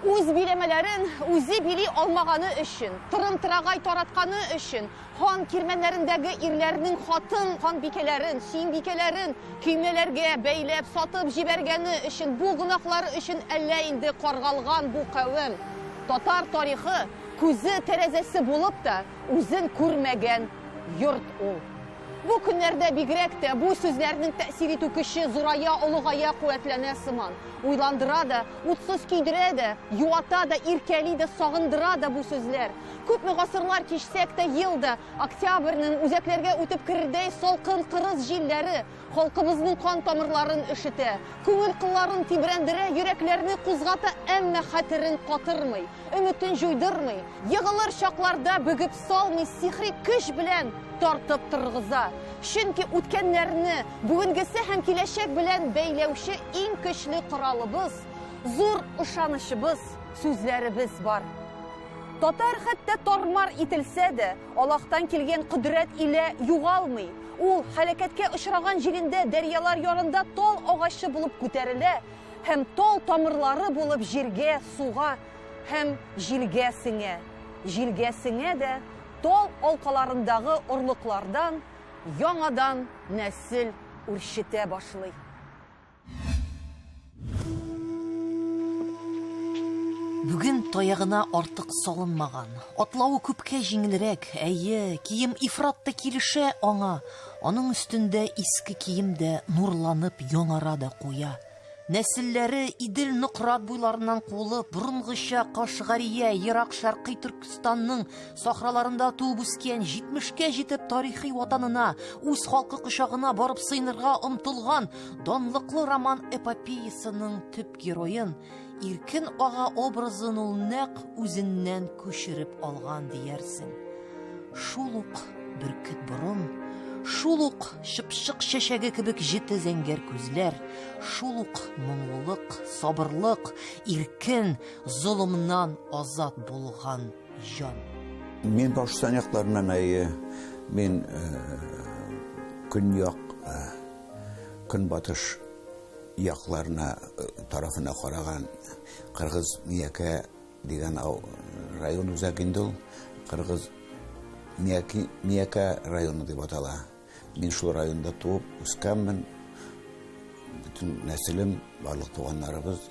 Үз биләмәләрен үзе били алмаганы өчен, тырым-тырагай таратканы өчен, хан кирмәннәрендәге ирләрнең хатын ханбикәләрен, сөембикәләрен көймәләргә бәйләп сатып җибәргәне өчен, бу гөнаһлары өчен әллә инде каргалган бу кавем. Татар тарихы күзе тәрәзәсе булып та үзен күрмәгән йорт ул. Бу көннәрдә бигрәк тә бу сүзләрнең тәэсир итү көче зурая, олыгая, куәтләнә сыман. Уйландыра да, утсыз көйдерә дә, юата да, иркәли дә, сагындыра да бу сүзләр. Күпме гасырлар кичсәк тә, ел да, октябрьнең үзәкләргә үтеп керердәй салкын кырыс җилләре халкыбызның кан тамырларын өшетә, күңел кылларын тибрәндерә, йөрәкләрне кузгата, әмма хәтерен катырмый. Өметен җуйдырмый, егылыр чакларда бөгеп салмый сихри көч белән тартып торгыза. Чөнки үткәннәрне, бүгенгесе һәм киләчәк белән бәйләүче иң көчле коралыбыз, зур ышанычыбыз, сүзләребез бар. Татар хәтта тормар ителсә дә, Аллаһтан килгән кодрәт илә югалмый. Ул һәлакәткә очраган җирендә дәрьялар ярында тал агачы булып күтәрелә, Һәм тол тамырлары булып җиргә, суга һәм җилгә сеңә. Җилгә сеңә дә тол алкаларындагы орлыклардан яңадан нәсел үрчетә башлый. Бүген таягына артык салынмаган, атлавы күпкә җиңелрәк, әйе, кием ифрат та килешә аңа, Аның өстендә иске кием дә нурланып яңара да куя. Нәселләре Идел Нократ буйларыннан куылып, борынгыча Кашгария, Ерак Шәркый Төркстанның сахраларында туып үскән, 70-кә җитеп тарихи ватанына, үз халкы кочагына барып сыенырга омтылган данлыклы роман эпопеясының төп героен Иркен ага образын ул нәкъ үзеннән күчереп алган диярсең. Шул ук бөркет борын, шул ук чыпчык чәчәге кебек җете зәңгәр күзләр, шул ук моңлылык, сабырлык, иркен, золымнан азат булган җан. Мин Башкортстан якларыннан әйе. Мин э, көньяк э, көнбатыш якларына тарафына караган кыргыз миякә дигән район үзәк инде ул кыргыз мияки миякә районы дип атала мин шул районда туып үскәнмен бөтен нәселем барлык туганнарыбыз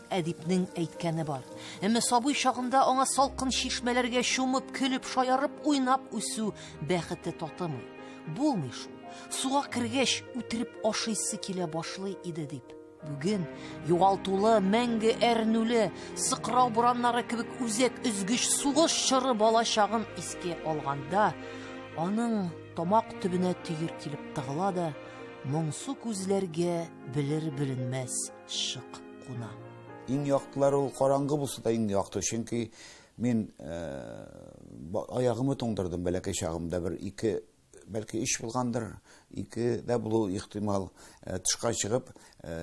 Әдипнең әйткәне бар. Әмма сабый чагында аңа салкын чишмәләргә чумып, көлеп, шаярып, уйнап үсү бәхете татымый. Булмый шул. Суга кергәч, үтереп ашыйсы килә башлый иде дип. Бүген югалтулы, мәңге әрнүле, сыкрау бураннары кебек үзәк өзгеч сугыш чоры бала чагын искә алганда, аның тамак төбенә төер килеп тыгыла да, моңсу күзләргә белер-беленмәс шык куна. Иң яктылар ул караңгы булса да иң якты, чөнки мин аягымы туңдырдым бәләкәй чагымда бер ике бәлки иш булгандыр, ике дә булу ихтимал. Тышка чыгып,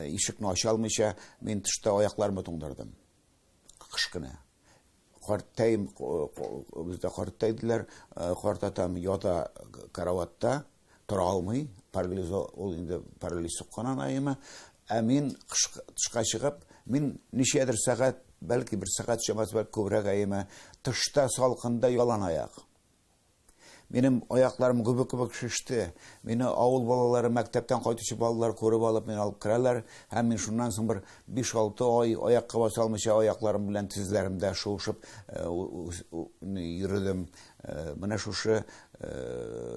ишекне ача алмыйча, мин тышта аякларымы туңдырдым. кышкына. Картәем, бездә картта иделәр, карт атам ята караватта, тора алмый, парализо, ул инде парализ суккан анаема. Ә мин тышка чыгып, мин ничәдер сәгать, бәлки бер сәгать чамасы, бәлки күбрәк аема, тышта салкында ялан аяк. Минем аякларым гөбек-гөбек шеште. Мине авыл балалары, мәктәптән кайтучы балалар күреп алып, мине алып керәләр, һәм мин шуннан соң бер биш-алты ай аякка баса алмыйча аякларым белән тезләремдә шуышып йөрдем. Менә шушы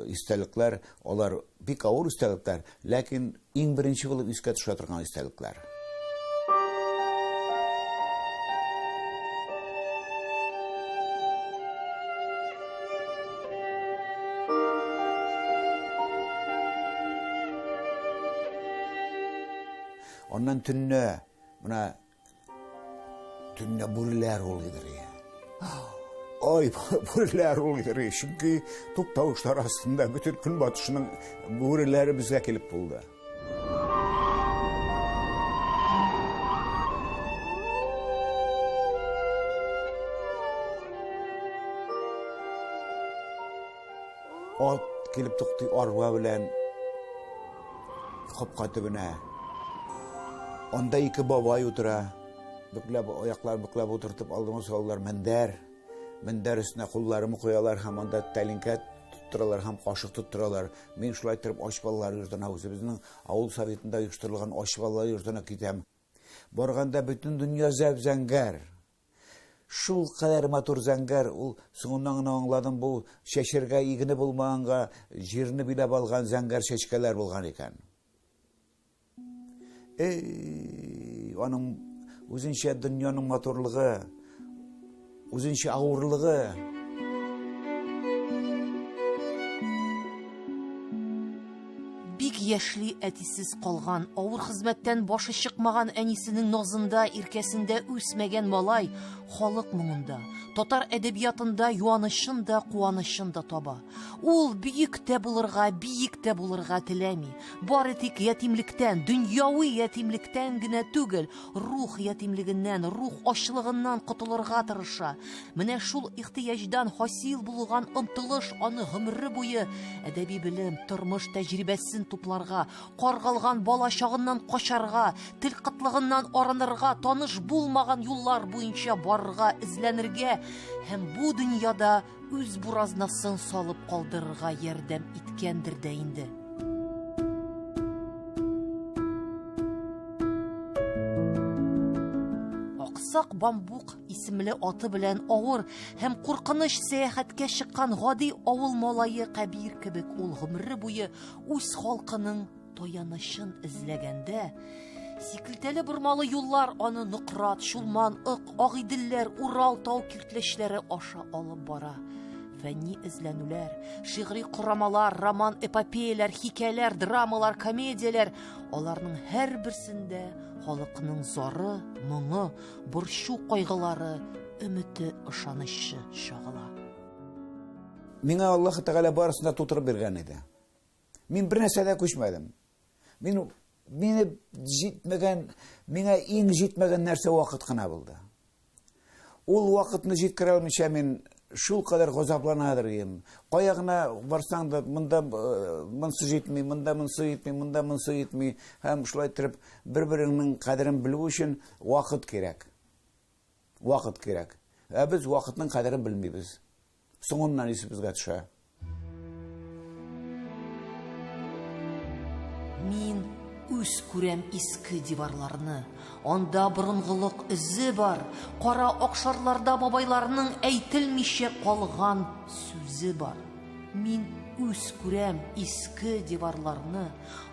истәлекләр, алар бик авыр истәлекләр, ләкин Иң беренче булып искә төшә торган истәлекләр. Аннан төнне менә Төнлә бүреләр улыйдыр я. Ай, бүреләр улыйдыр. Чөнки туп тавышлар астында бөтен көнбатышның бүреләре безгә килеп булды. Ат килеп туктый арба белән капка төбенә. Анда ике бабай утыра. Бөкләп, аяклар бөкләп утыртып алдыма салалар мендәр. Мендәр өстенә кулларымы куялар һәм анда тәлинкә тоттыралар һәм кашык тоттыралар. Мин шулай торып ач балалар йортына үзебезнең авыл советында оештырылган ач балалар йортына китәм. Барганда бөтен дөнья зәп-зәңгәр. Шул кадәр матур зәңгәр ул, соңыннан гына аңладым, бу чәчәргә игене булмаганга, җирне биләп алган зәңгәр чәчкәләр булган икән. Эй, аның үзенчә дөньяның матурлыгы, үзенчә авырлыгы. Бик яшьли әтисез калган, авыр хезмәттән башы чыкмаган әнисенең назында, иркәсендә үсмәгән малай халык моңында, татар әдәбиятында юанычын да, куанычын да таба. Ул бөек тә булырга, биек тә булырга теләми. Бары тик ятимлектән, дөньяви ятимлектән генә түгел, Рух ятимлегеннән, рух ачлыгыннан котылырга тырыша. Менә шул ихтыяҗдан хасил булган омтылыш аны гомере буе әдәби белем, тормыш тәҗрибәсен тупларга, каргалган бала чагыннан качарга, тел кытлыгыннан арынырга, таныш булмаган юллар буенча барырга, эзләнергә һәм бу дөньяда Үз буразнасын салып калдырырга ярдәм иткәндер дә инде. Аксак бамбук исемле аты белән авыр һәм куркыныч сәяхәткә чыккан гади авыл малае Кәбир кебек ул гомере буе үз халкының Таянычын эзләгәндә, сикелтәле бормалы юллар аны Нократ, Чулман, Ык, Агыйделләр, Урал тау киртләчләре аша алып бара. Фәнни эзләнүләр, шигъри корамалар, роман эпопеяләр, хикәяләр, драмалар, комедияләр, аларның һәрберсендә халыкның зары, моңы, борчу кайгылары, өмете, ышанычы чагыла. Миңа Аллаһ Тәгалә барысын да тутырып биргән иде. Мин бер нәрсә дә күчмәдем. Мин мине җитмәгән, миңа иң җитмәгән нәрсә вакыт кына булды. Ул вакытны җиткерә алмыйча мин шул кадәр газапланадыр идем. Кая гына барсаң да, монда э, монсы җитми, монда монсы җитми, монда монсы җитми. Һәм шулай торып, бер-береңнең кадерен белү өчен вакыт кирәк. Вакыт кирәк. Ә без вакытның кадерен белмибез. Соңыннан исебезгә төшә. Мин үз күрәм иске диварларны, анда борынгылык эзе бар, кара акшарларда бабайларның әйтелмичә калган сүзе бар. Мин үз күрәм иске диварларны,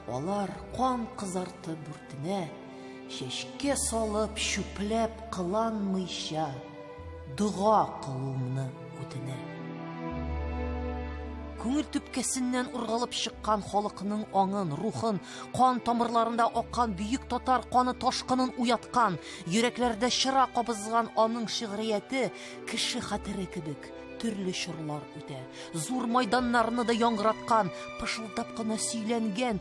алар кан кызарты бүртенә, Чәчкә салып, чүпләп кыланмыйча дога кылуымны үтенә. Күңел төпкәсеннән ургалып чыккан халыкның аңын, рухын, кан тамырларында аккан бөек татар каны ташкынын уяткан, йөрәкләрдә чыра кабызган аның шигърияте кеше хәтере кебек төрле чорлар үтә. Зур майданнарны да яңгыраткан, пышылдап кына сөйләнгән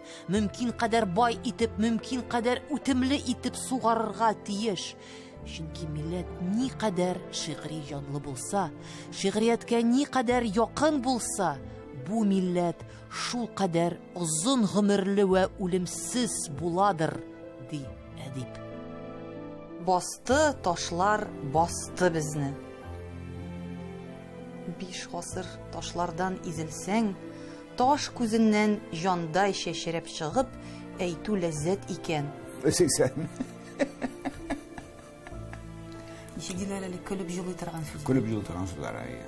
мөмкин кадәр бай итеп, мөмкин кадәр үтемле итеп сугарырга тиеш. Чөнки милләт ни кадәр шигъри җанлы булса, шигърияткә ни кадәр якын булса, бу милләт шул кадәр озын гомерле вә үлемсез буладыр, ди әдип. Басты ташлар басты безне. Биш гасыр ташлардан изелсәң, Таш күзеннән җандай чәчрәп чыгып, әйтү ләззәт икән. Сиксән. Ничек диләр әле көлеп җылый торган сүз. Көлеп җылый торган сүзләр, әйе.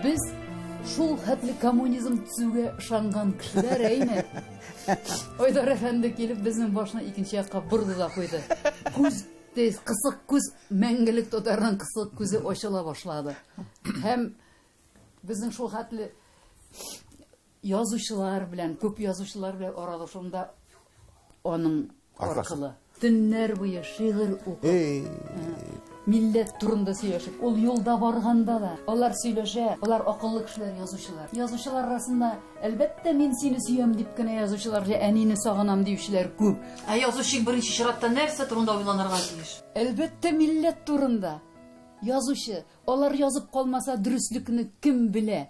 Без шул хәтле коммунизм төзүгә ышанган кешеләр, әйме? Айдар әфәнде килеп безнең башны икенче якка борды да куйды. Күз тез кысык күз мәңгелек татарның кысык күзе ачыла башлады. Һәм безнең шул хәтле язучылар белән, күп язучылар белән аралашуында аның аркылы. Төннәр буе шигырь укып, милләт турында сөйләшеп, ул юлда барганда да алар сөйләшә, алар акыллы кешеләр, язучылар. Язучылар арасында, әлбәттә, мин сине сөям дип кенә язучылар, әнине сагынам диючеләр күп. Ә язучы беренче чиратта нәрсә турында уйланырга тиеш? Әлбәттә, милләт турында. Язучы, алар язып калмаса, дөреслекне кем белә?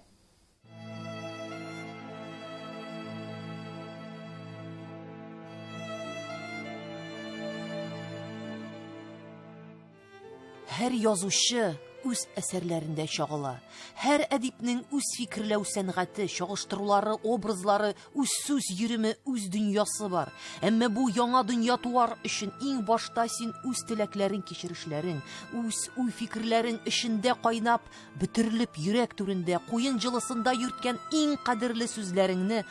Һәр язучы үз әсәрләрендә чагыла. Һәр әдипнең үз фикерләү сәнгате, чагыштырулары, образлары Үз сүз йөреме, үз дөньясы бар. Әмма бу яңа дөнья туар өчен иң башта син үз теләкләрең, кичерешләрең, үз уй фикерләрең эчендә кайнап, бөтерелеп йөрәк түрендә, куен җылысында йөрткән иң кадерле сүзләреңне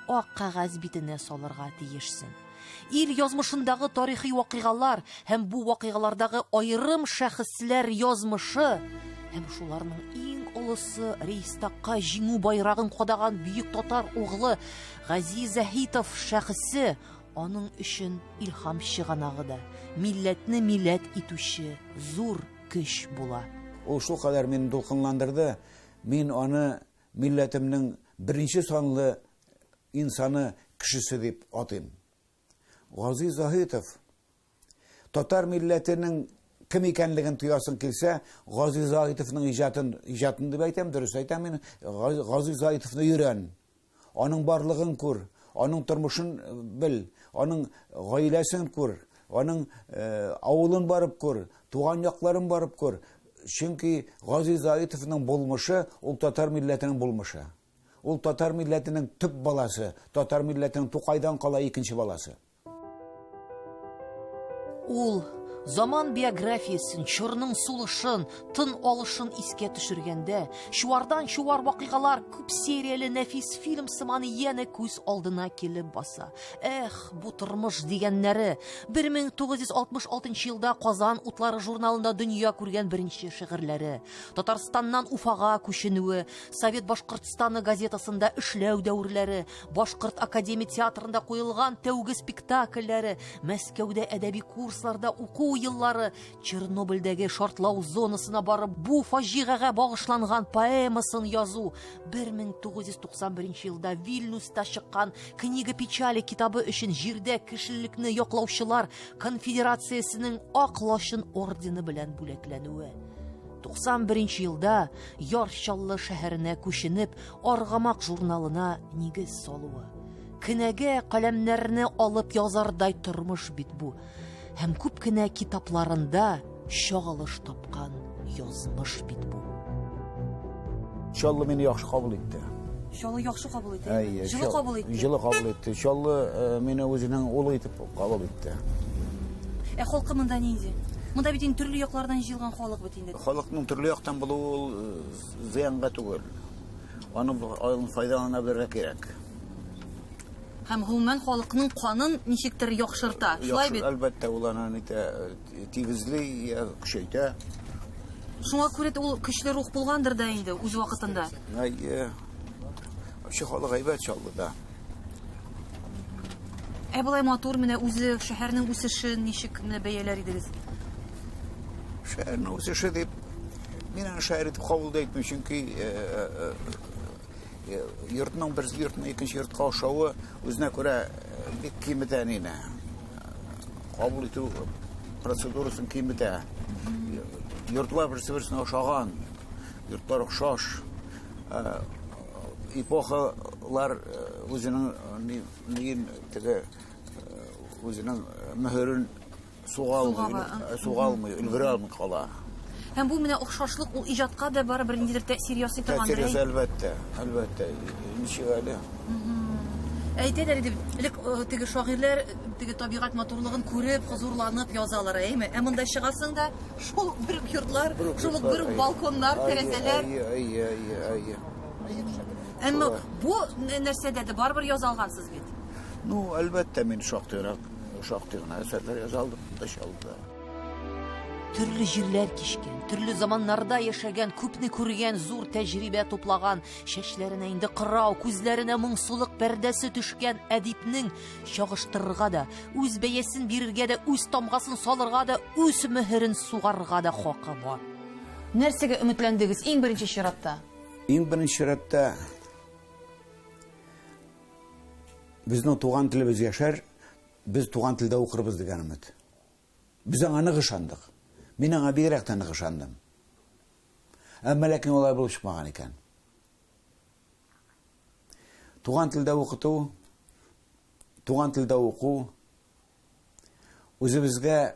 ак кагаз битенә салырга тиешсең. Ил язмышындагы тарихи вакыйгалар һәм бу вакыйгалардагы аерым шәхесләр язмышы һәм шуларның иң олысы Рейстакка җиңү байрагын кадаган бөек татар углы Гази Заһитов шәхесе аның өчен илһам чыганагы да, милләтне милләт итүче зур көч була. Ул шулкадәр мине дулкынландырды, мин аны милләтемнең беренче санлы Инсаны кешесе дип атыйм. Гази Заһитов татар милләтенең кем икәнлеген тоясың килсә, Гази Заһитовның иҗатын, иҗатын дип әйтәм, дөрес әйтәм мин, Гази Заһитовны йөрән. Аның барлыгын күр, аның тормышын э, бел, аның гаиләсен күр, аның э, авылын барып күр, туган якларын барып күр. Чөнки Гази Заһитовның булмышы ул татар милләтенең булмышы. Ул татар милләтенең төп баласы, татар милләтенең Тукайдан кала икенче баласы. Ул Заман биографиясен, чорның сулышын, тын алышын искә төшергәндә, чуардан чуар вакыйгалар күп серияле нәфис фильм сыман янә күз алдына килеп баса. Эх, бу тормыш дигәннәре. 1966 елда Казан утлары журналында дөнья күргән беренче шигырьләре, Татарстаннан Уфага күченүе, Совет Башкортстаны газетасында эшләү дәверләре, Башкорт академия театрында куелган тәүге спектакльләре, Мәскәүдә әдәби курсларда уку еллары, Чернобыльдәге шартлау зонасына барып, бу фаҗигагә багышланган поэмасын язу, 1991 елда Вильнюста чыккан Книга печали китабы өчен җирдә кешелекне яклаучылар конфедерациясенең Ак лачын ордены белән бүләкләнүе. 91 нче елда Яр Чаллы шәһәренә күченеп, Аргамак журналына нигез салуы. Кенәгә каләмнәрне алып язардай тормыш бит бу. Һәм күп кенә китапларында чагылыш тапкан язмыш бит бу. Чаллы мине яхшы кабул итте. Чаллы яхшы кабул итте. Әйе, җылы кабул итте. Җылы кабул итте. Чаллы э, мине үзенең улы итеп кабул итте. Ә халкы монда нинди? Монда бит инде төрле яклардан җыелган халык бит инде. Халыкның төрле яктан булуы ул э, зыянга түгел. Аны аның файдалана белергә кирәк. Һәм гомумән халыкның канын ничектер яхшырта. Шулай бит? Әлбәттә, ул аны нитә Тигезли, көчәйтә. Шуңа күрә дә ул көчле рух булгандыр да инде үз вакытында. Әйе. Вообще халык әйбәт Чаллыда. Ә болай матур менә үзе шәһәрнең үсешен ничек менә бәяләр идегез? Шәһәрнең үсеше дип мин аны шәһәр итеп кабул итмим, чөнки Йортның бер йортның икенче йортка ошавы үзенә күрә бик кимедә әнине. Кабул итү процедурасын кимедә. Йортлар берсе берсенә ошаган. Йортлар ошаш. Эпохалар үзенең нигин теге үзенең мөһерен Суга алмый, суга алмый, өлгерә алмый кала. Һәм бу менә охшашлык ул иҗатка да бары бер ниндидер тәэсир ясый торган. Тәэсир ясый әлбәттә, әлбәттә. Ничек әле? Әйтәләр иде, элек теге шагыйрьләр теге табигать матурлыгын күреп, хозурланып язалар, әйме? Ә монда чыгасың да, шул бер үк йортлар, шул бер үк балконнар, тәрәзәләр. Әйе, әйе, әйе, әйе. Әмма бу нәрсәдә дә барыбер язалгансыз бит. Ну, әлбәттә, мин шактыйрак Шактый гына әсәрләр яза алдым, да чалды. Төрле җирләр кичкән, төрле заманнарда яшәгән, күпне күргән, зур тәҗрибә туплаган, чәчләренә инде кырау, күзләренә моңсулык пәрдәсе төшкән әдипнең чагыштырырга да, үз бәясен бирергә дә, үз тамгасын салырга да, үз мөһерен сугарга да хакы бар. Нәрсәгә өметләндегез иң беренче чиратта? Иң беренче чиратта Безнең туган телебез яшәр, без туган телдә укырбыз дигән өмет. Без аңа нык ышандык. Мин аңа бигрәк тә нык ышандым. Әмма ләкин алай булып чыкмаган икән. Туган телдә укыту, туган телдә уку үзебезгә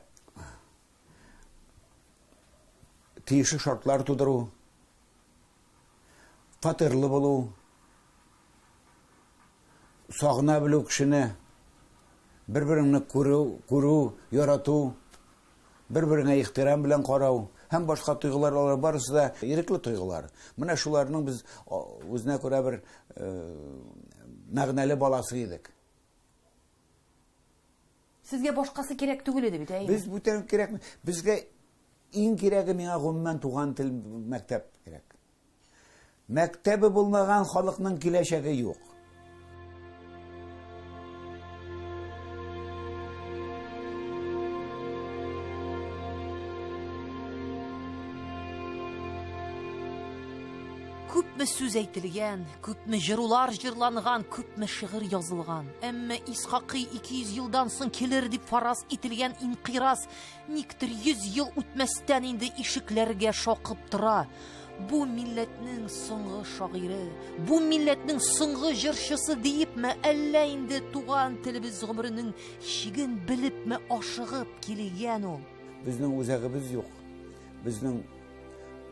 тиешле шартлар тудыру, Фатирлы булу, сагына белү кешене, бер-береңне күрү, күрү, ярату, бер-береңә ихтирам белән карау һәм башка тойгылар алар барысы да ирекле тойгылар. Менә шуларның без үзенә күрә бер э, мәгънәле баласы идек. Сезгә башкасы кирәк түгел иде бит, әйеме? Без бүтән кирәк. Безгә иң кирәге миңа гомумән туган тел мәктәп кирәк. Мәктәбе булмаган халыкның киләчәге юк. Күпме сүз әйтелгән, күпме җырулар җырланган, күпме шигырь язылган. Әмма Исхакый 200 елдан соң килер дип фараз ителгән инкыйраз никтер 100 ел үтмәстән инде ишекләргә шакып тора. Бу милләтнең соңгы шагыйре, бу милләтнең соңгы җырчысы диепме, әллә инде туган телебез гомеренең чиген белепме ашыгып килгән ул? Безнең үзәгебез юк. Безнең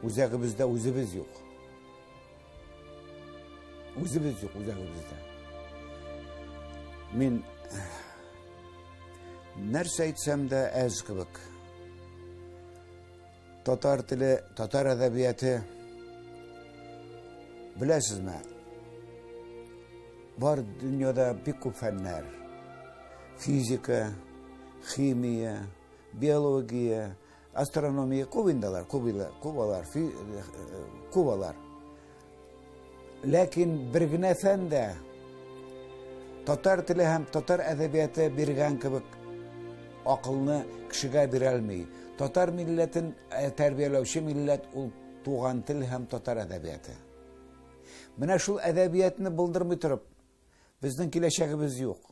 үзәгебездә үзебез юк. Үзебез юк үзәгебездә. Мин нәрсә әйтсәм дә әз кебек. Татар теле, татар әдәбияты беләсезме? Бар дөньяда бик күп фәннәр. Физика, химия, биология, Астрономия кубиндалар, кубилар, кубалар, фи, э, э, кубалар. Ләкин бер генә фән дә татар теле һәм татар әдәбияты биргән кебек акылны кешегә бирә алмый. Татар милләтен э, тәрбияләүче милләт ул туган тел һәм татар әдәбияты. Менә шул әдәбиятны булдырмый торып, безнең киләчәгебез юк.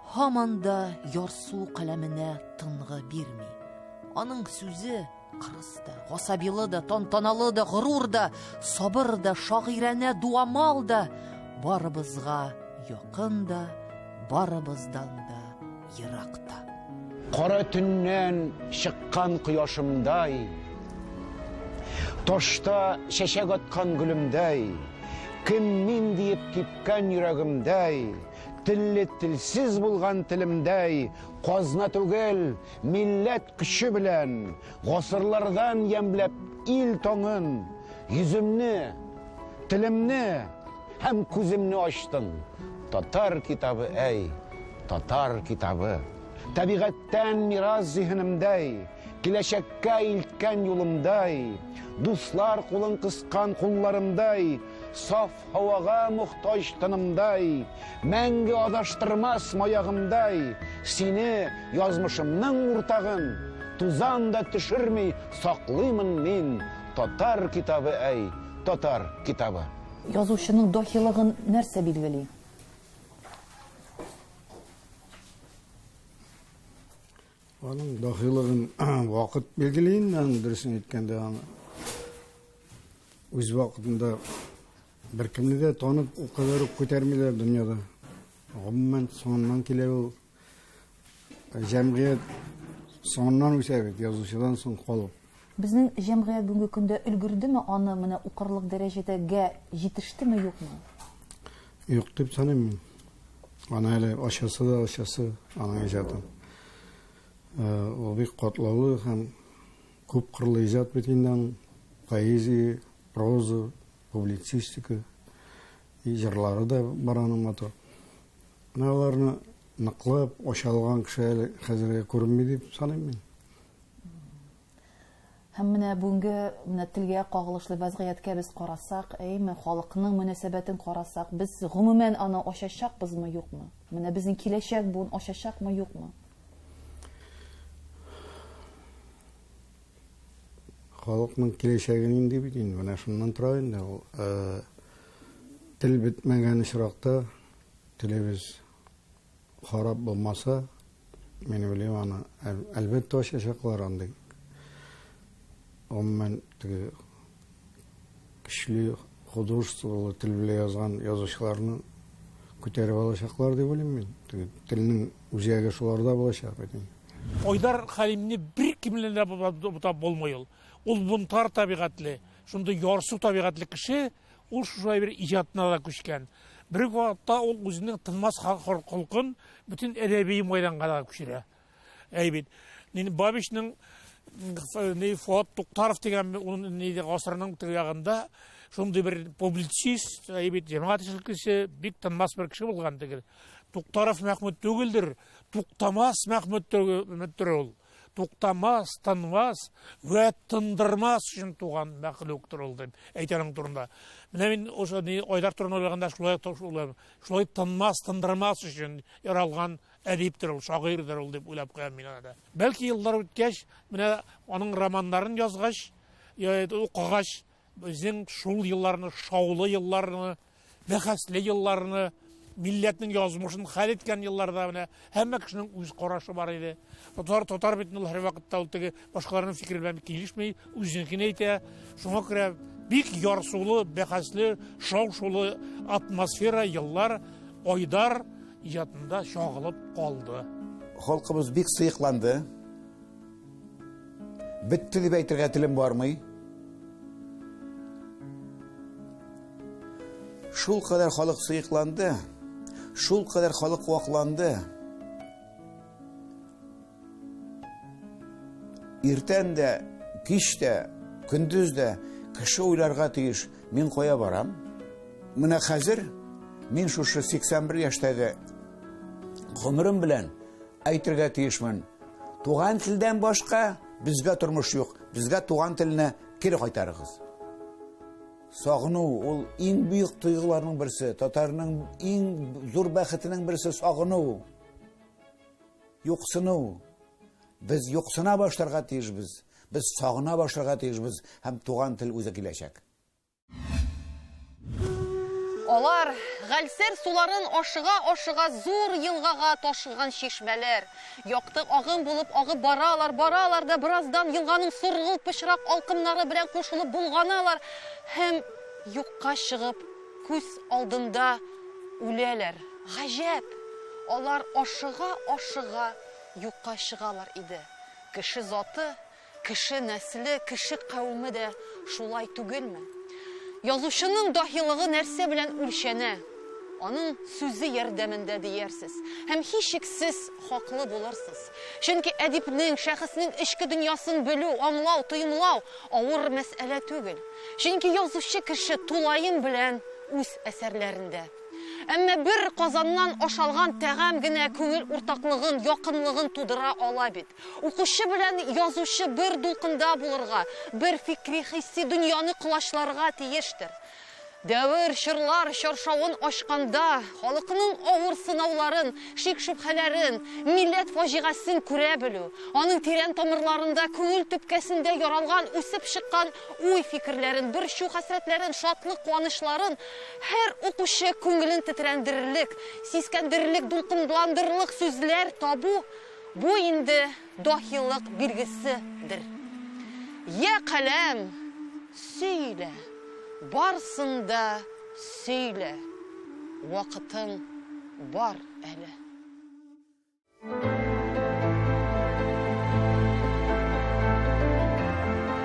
Һаман да ярсу каләменә тынгы бирми. Аның сүзе кырыс да, гасабилы да, тантаналы да, горур да, сабыр да, шагыйрәнә дуамал да, барыбызга якын да, барыбыздан да ерак та. Кара төннән чыккан кояшымдай, ташта чәчәк аткан гөлемдәй, кем мин диеп типкән йөрәгемдәй, Телле телсез булган телемдәй, казна түгел, милләт көче белән, гасырлардан ямьләп ил таңын, йөземне, телемне һәм күземне ачтың. Татар китабы, әй, татар китабы. Табигатьтән мирас зиһенемдәй, киләчәккә илткән юлымдай, дуслар кулын кыскан кулларымдай, саф Һавага мохтаҗ тынымдай, Мәңге адаштырмас маягымдай, Сине, язмышымның уртагын, Тузан да төшерми саклыймын мин, Татар китабы, әй, татар китабы. Язучының даһилыгын нәрсә билгели? Аның дахилыгын вакыт билгели инде, аның дөресен әйткәндә, аны үз вакытында беркемне дә танып ул кадәр үк күтәрмиләр дөньяда. Гомумән, соңыннан килә ул җәмгыять соңыннан үсә бит, язучыдан соң калып. Безнең җәмгыять бүгенге көндә өлгердеме аны менә укырлык дәрәҗәдә гә җитештеме, юкмы? Юк дип саныйм мин. Аны әле ачасы да ачасы аның иҗатын. Э, ул бик катлаулы һәм күп кырлы иҗат бит инде аның. Поэзия, проза, публицистика, җырлары да бар аның матур. Менә аларны ныклап ача алган кеше әле хәзергә күренми дип саныйм мин. Һәм менә бүгенге менә телгә кагылышлы вәзгыятькә без карасак, әйме, халыкның мөнәсәбәтен карасак, без гомумән аны ачачакбызмы, юкмы? Менә безнең киләчәк буын ачачакмы, юкмы? халыкның киләчәге нинди бит инде менә шуннан тора инде ул тел бетмәгән очракта телебез Харап булмаса, мин уйлыйм аны, әлбәттә ачачаклар андый. Гомумән, теге көчле художестволы тел белән язган язучыларны күтәреп алачаклар дип уйлыйм мин. Теге телнең үзәге шуларда булачак бит. Айдар Хәлимне бер кимләндә бутап булмый ул. Ул бунтар табигатьле, шундый ярсу табигатьле кеше, Ул шушылай бер иҗатына да күчкән. Бер үк вакытта ул үзенең тынмас холкын бөтен әдәби майданга да күчерә. Әй бит, мин Бабичның ни Фуат Туктаров дигән ул ни гасырның тирәгендә шундый бер публицист, әй бит, җәмәгать эшлеклесе, бик тынмас бер кеше булган тегел. Туктаров Мәхмүд түгелдер, Туктамас Мәхмүд түгелдер ул. туктамас, тынмас вә тындырмас өчен туган мәхлуктыр ул дип әйтә аның турында. Менә мин ошо ни Айдар турында уйлаганда шулай шулай, шулай тынмас, тындырмас өчен яралган әдиптер ул, шагыйрьдер ул дип уйлап куям мин аны. Бәлки еллар үткәч, менә аның романнарын язгач, укыгач, Безнең шул елларны, шаулы елларны, бәхәсле елларны, милләтнең язмышын хәл иткән елларда менә һәммә кешенең үз карашы бар иде. Татар татар бит ул һәрвакытта ул теге башкаларның фикере белән килешми, үзенекен әйтә. Шуңа күрә бик ярсулы, бәхәсле, шау-шулы атмосфера еллар Айдар иҗатында чагылып калды. Халкыбыз бик сыекланды. Бетте дип әйтергә телем бармый. Шул кадәр халык сыекланды, шул кадәр халык вакланды. Иртән дә, кич тә, көндез дә кеше уйларга тиеш, мин кая барам? Менә хәзер мин шушы 81 яшьтәге гомерем белән Әйтергә тиешмен. Туган телдән башка безгә тормыш юк. Безгә туган телне кире кайтарыгыз. Сагыну ул иң бөек тойгыларның берсе. Татарның иң зур бәхетенең берсе сагыну. Юксыну. Без юксына башларга тиешбез. Без сагына башларга тиешбез һәм туган тел үзе киләчәк. Алар, Гальсер суларын ашыга-ашыга зур елгага ташыган чишмәләр. Якты агым булып агып баралар, баралар да бераздан елганың соргылт пычрак алкымнары белән кушылып болганалар һәм юкка чыгып күз алдында үләләр. Гаҗәп! Алар ашыга-ашыга юкка чыгалар иде. Кеше заты Кеше нәсле, кеше кавеме дә шулай түгелме? Язучының даһилыгы нәрсә белән үлчәнә? Аның сүзе ярдәмендә диярсез. Һәм һичшиксез хаклы булырсыз. Чөнки әдипнең, шәхеснең эчке дөньясын белү, аңлау, тоемлау авыр мәсьәлә түгел. Чөнки язучы кеше тулаем белән үз әсәрләрендә. Әмма бер казаннан ашалган тәгам генә күңел уртаклыгын, якынлыгын тудыра ала бит. Укучы белән язучы бер дулкында булырга, бер фикри-хисси дөньяны колачларга тиештер. Дәвер, чорлар чаршавын ачканда, халыкның авыр сынауларын, шик-шөбһәләрен, милләт фаҗигасен күрә белү, аның тирән тамырларында, күңел төпкәсендә яралган, үсеп чыккан уй-фикерләрен, борчу-хәсрәтләрен, шатлык-куанычларын һәр укучы күңелен тетрәндерерлек, сискәндерерлек, дулкынландырырлык сүзләр табу, Бу инде даһилык билгесе дер. Йә, каләм, сөйлә, барсын да сөйлә, вакытың бар әле.